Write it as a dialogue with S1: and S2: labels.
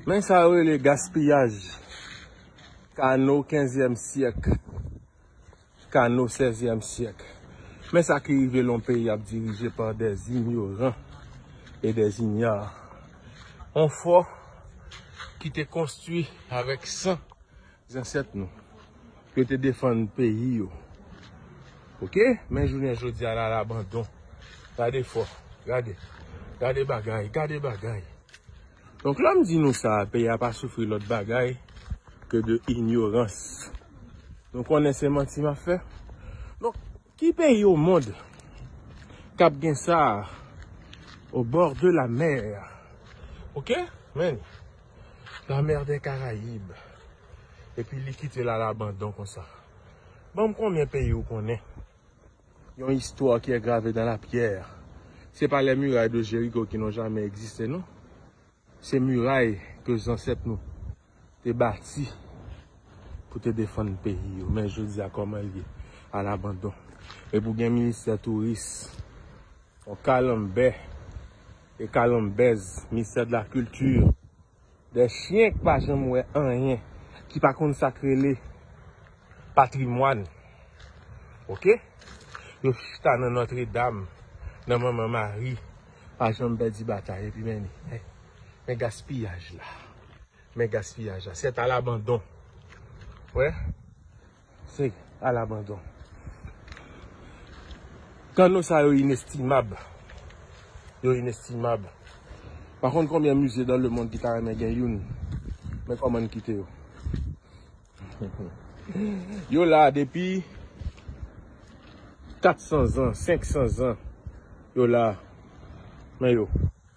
S1: Men sa yo rele gaspiyaj. Kano kenzyèm syèk. Kano sèzyèm syèk. Men sa ki rive lè yon peyi ap dirije pa dè zinyoran e dè zinya. Yon fò ki te konstwi avèk san Zansèt nou. Pou yo te defann peyi yo. Ok. Men jounen jodi a la labandon. Gade fò. Gade. Gade bagay. Gade bagay. Donk lè m di nou sa a peyi a pa soufri lòt bagay ke de inyorans. Nou konnen se manti m ap fè. Donk. Ki peyi au monde kap gen sa au bord de la mer ok men la mer des caraibes epi li kite l a l'abandon konsa banm konbyen peyi ou konnen yon histoire qui est gravée dans la pierre se pa les murailles de Jéricho qui n'ont jamais existé non se muraille ke zansèt nou te bati pou te defann peyi yo men jodi a kòman l ye a labandon e pou gen ministè touris yon kalanbè e kalanbèz ministè de la kilti de chyen k pa janm wè anyen ki pa konn sa k rele patrimwàn ok yo chita nan nòtredam nan manman mari pa janm pèdi batay epi men men gaspiyaj la. Men gaspiyaj la. Sèt alabandon. Wè. Se alabandon. Kanno sa yo inestimab. Yo inestimab. Pa konn konbyen mize dan le mond ki ta renmen gen youn. Men koman n kite yo. Yo la depi 400 zan, 500 zan. Yo la. Men yo.